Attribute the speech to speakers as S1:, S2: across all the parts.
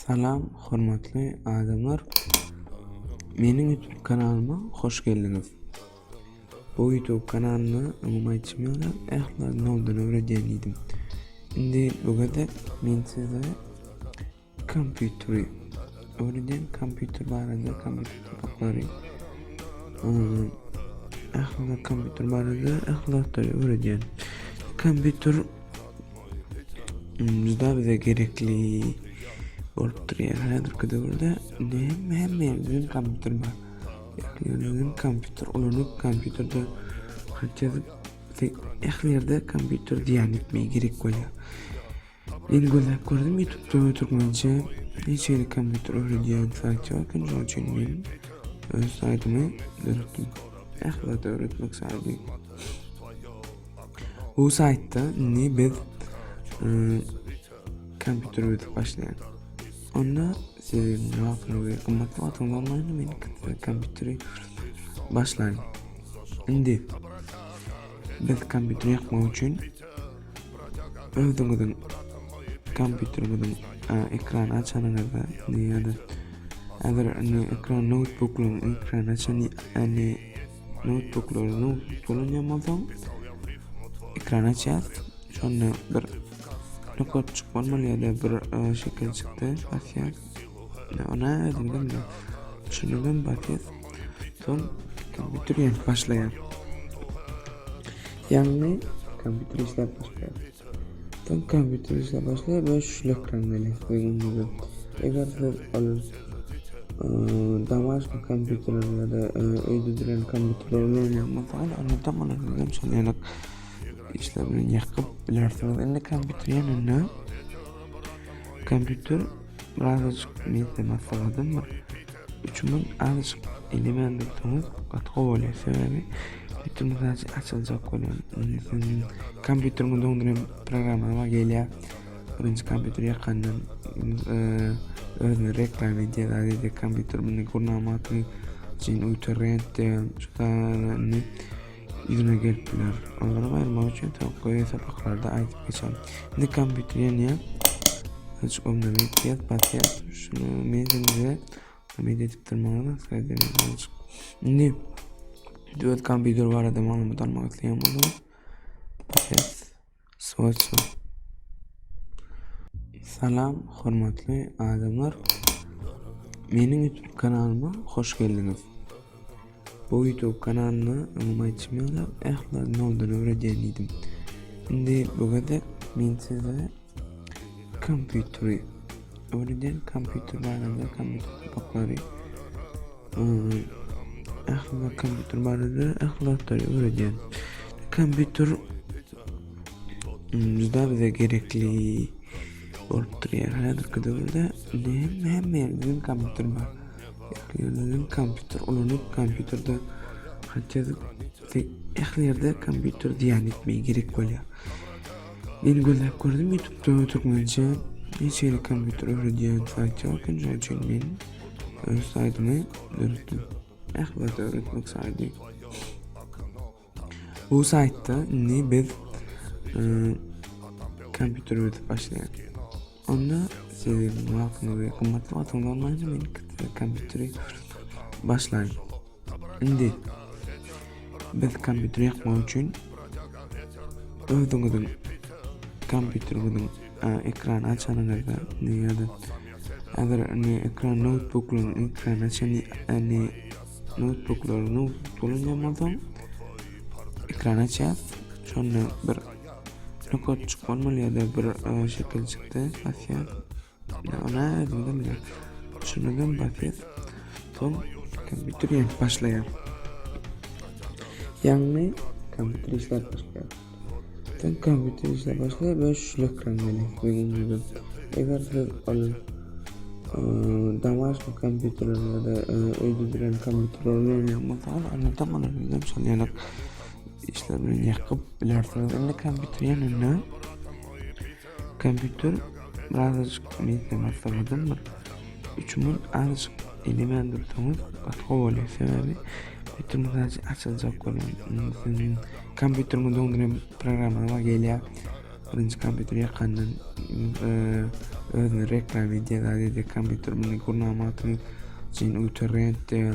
S1: Salam hormatly adamlar meniň YouTube kanalyma hoş geldiňiz. Bu YouTube kanalyny öňüm aýtşym ýaly ähli noldan öwredýän diýdim. Indi bu gezek men size kompýuteri öwredýän kompýuter barada kompýuter topaklary ähli kompýuter barada ähli zatlary öwredýän. Kompýuter Ümüzda bize gerekli bolup durýar. Häzirki döwürde näme hemme ýerde kompýuter bar. Ýöne kompýuter ulanyp kompýuterde hatda ähli ýerde kompýuter diýen etmegi gerek bolýar. Men gözläp gördüm YouTube-da türkmençe hiç ýerde kompýuter öwredýän saýt ýok, şonuň üçin men öz saýtymy döretdim. Ähli zat öwretmek saýty. Bu saýtda indi biz ıı, kompýuter öwredip başlaýarys. Onda siziň wagtyňyz we gymmat wagtyňyz bolmanda men kompýuteri başlaýyn. Indi biz kompýuteri ýakmak üçin özüňiziň kompýuteriňiziň ekrany açanyňyzda ýa-da eger indi ekran noutbuklaryň ekrany açan ýa-da Noutbuklaryny ulanýan bolsaň, ekran açýas. Şonda bir nokot bolmaly ýa-da bir e, şekil çykdy, basýas. Ona özümden de düşünmeden basýas. Soň kompýuter ýanyp başlaýar. Ýagny kompýuter işläp başlaýar. Soň kompýuter işläp başlaýar we şlýok reňk gelýär diýildi. Eger siz ol domashniý kompýuterleri ýa-da öýde duran kompýuterleri ulanýan bolsaňyz, onda tam olar bilen şol ýalak işler bilen ýakyp bilersiňiz. Indi kompýuter ýanynda kompýuter birazajyk men size maslahatym bar. Üçümiz azajyk ele berdiksiňiz gaty gowy bolýar. Sebäbi Twitter mesajy açyljak bolýar. Indi siziň kompýuteriňize öňden programma gelýär. Birinji kompýuter ýakandan eee, özüne reklama edýär, zady kompýuter muny gurnamak üçin öýter rentde şu sany Yzyna gelip biler. Onlary aýyrmak üçin tawuk goýy sapaklarda aýdyp geçen. Indi kompýuter ýanyýa. Hiç onda media batýa. Şunu media media edip durmagyna saýdyň. Indi Dört kompýuter barada maglumat almak isleýän bolsa. Ses. Swatcha. Salam hormatly adamlar. Meniň YouTube kanalyma hoş geldiňiz. Bu YouTube kanalynda öňüm aýtşym ýaly ähli noldan öwredýän diýdim. Indi bu gezek men size kompýuteri Öňeden kompýuter barada kompýuter sapaklary ähli zat kompýuter barada ähli zatlary öwredýän. Kompýuter juda bize gerekli bolup durýar. Häzirki döwürde näme hemme ýerde kompýuter bar. Ähli kompýuter ulanyp kompýuterde hatda ähli ýerde kompýuter diýýän etmeýi gerek bolýar. Men gözläp gördüm ýutupda türkmençe hiç hili kompýuter öwredýän saýt ýok indi şonuň üçin men öz saýtymy döretdim ähwat öwretmek saýty bu saýtda indi biz e, kompýuter öwredip başlaýan Onda sebäbini wagtyňyzy we gymmatly wagtyňyzy almaýjak men kitap kompýuteri başlaýyn. Indi biz kompýuter ýakmak üçin özüňiziň kompýuteriňiziň ekrany açanyňyzda ýa-da eger ne ekran noutbuklaryň ekrany açan ne noutbuklary noutbuk bolan bolsaň ekran açýar şonda bir Rekord çykman bolýada bir şekil çykdy basýa. Ya ona özümden bile. Şundan basýa. Son kompýuter ýaňy başlaýar. Ýaňy kompýuter işläp başlaýar. Sen kompýuter işläp başlaýar we şu ekran gelýär. Benim gibi. Eger siz ol Damaşq kompýuterlerinde öýdüdilen kompýuterler bilen ýagmasa, onda da bana bilen şol ýaly işler bilen ýakyp bilersiňiz. Indi kompýuter ýanynda kompýuter birazajyk nitden asaladan bir üç minut azajyk elemän dursaňyz gatga bolýar sebäbi bütün sadece açılacak bolýar sizin kompýuteriňi döndüren programmalar gelýär birinji kompýuter ýakandan e, özüne reklama edýär sadece kompýuter muny gurnamak üçin ultra rent diýär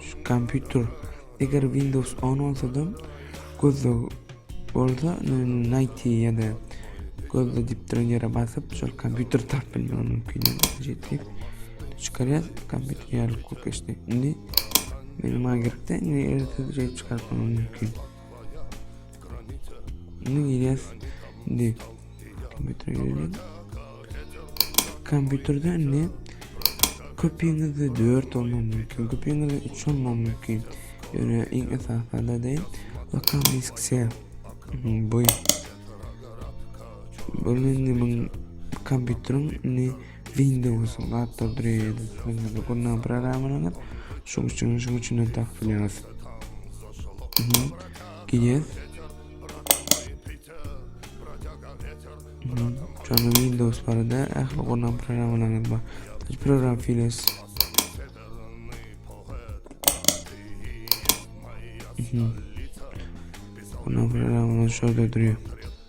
S1: Şu kompýuter eger Windows 10 bolsa-da gözle bolsa Nighty ýa-da gözle diýip duran ýere basyp şol kompýuter tapyp bilmek mümkin ýetdi. Çykarýar kompýuter ýaly kop geçdi. Indi benim gerek-de indi ertesi çykaryp bilmek mümkin. Bunu girýäs. Indi kompýutere girelim. Kompýuterde indi köpüňizde 4 olma mümkin, köpüňizde 3 olma mümkin. Ýöne iň esasanda de lokal disksiýa bu. Bu indi kompýuteriň indi Windows laptop dreýýär. Ýöne gurnan programmany şu üçin şu üçin tak bilýär. Giýer. Şonu Windows barada ähli gurnan programmalaryny bar. Hiç program files. Gurnan programmalar şurada duruyor.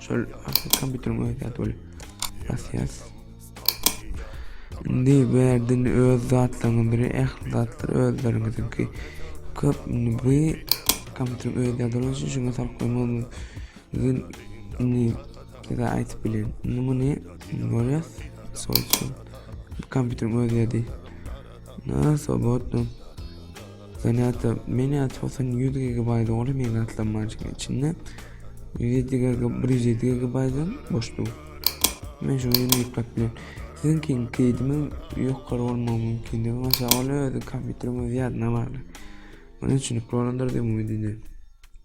S1: Şol kompýuteriň özi zat bolup. Basýas. Indi berdin öz zatlaryňyzy, ähli zatlar özleriňizinki. Köp indi bu kompýuteriň özi zat bolup, şuňa salp goýmagy mümkin. Indi size aýdyp bilen. Indi muny görýäs. Sol şu kompýuteriň özi zat. Na, sobotno. Zanýatda Miniac Hosyn ýüz gigabaýt doly meýil atlanmaçyň içinde ýüz ýedi giga bir ýüz ýedi gigabaýtdan boş dur. Men şuňa ýene ýüklap bilen. Siziňkiň keýdimiň ýokary bolmagy mümkindigi maşa ol özi kompýuteriň öz ýadyna bagly. Muny düşünip bolandyr diýip umyt edýän.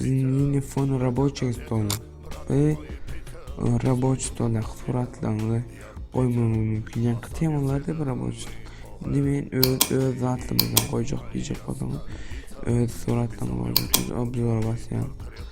S1: Mini fon reboçiý stola we reboçiý stola suratlaryňyzy goýmagyňyz mümkin. Ýaňky temalarda bir reboçiý. Indi men öz öz zatymdan goýjak diýjek bolsaňyz, öz suratlaryňyzy goýjak. Obzora basýaň.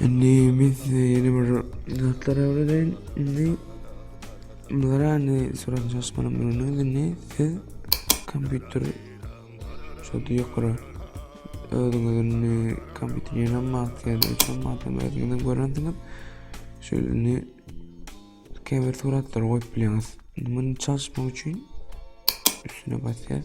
S1: Indi men size ýene bir zatlar öwredeyim. Indi bunlara indi surat jasmana bürünüz indi siz kompýuter şu ýokary özüňiziň kompýuter ýene maksat üçin maksat özüňiziň görensiňiz. Şu indi käbir suratlar goýup bilýäňiz. Muny çalışmak üçin üstüne basýas.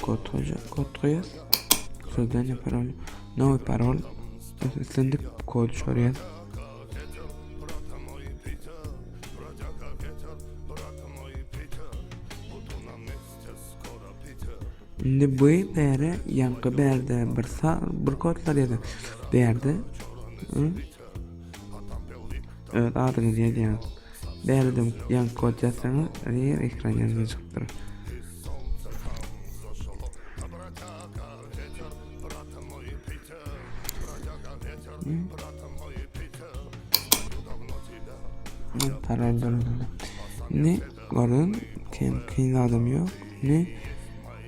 S1: Kod hoja, kod koyar. Sozdanje parol. Nowy parol. Islendik kod soraýar. Indi bu bäre ýaňky bärde bir sar bir kodlar ýazyp berdi. Öz adyňyzy ýazýaň. Bärden ýaňky kod ýazsaňyz, her ekran ýanyna çykyp durur. Karar durumda. Ne görün, kim kyn adam yok. Ne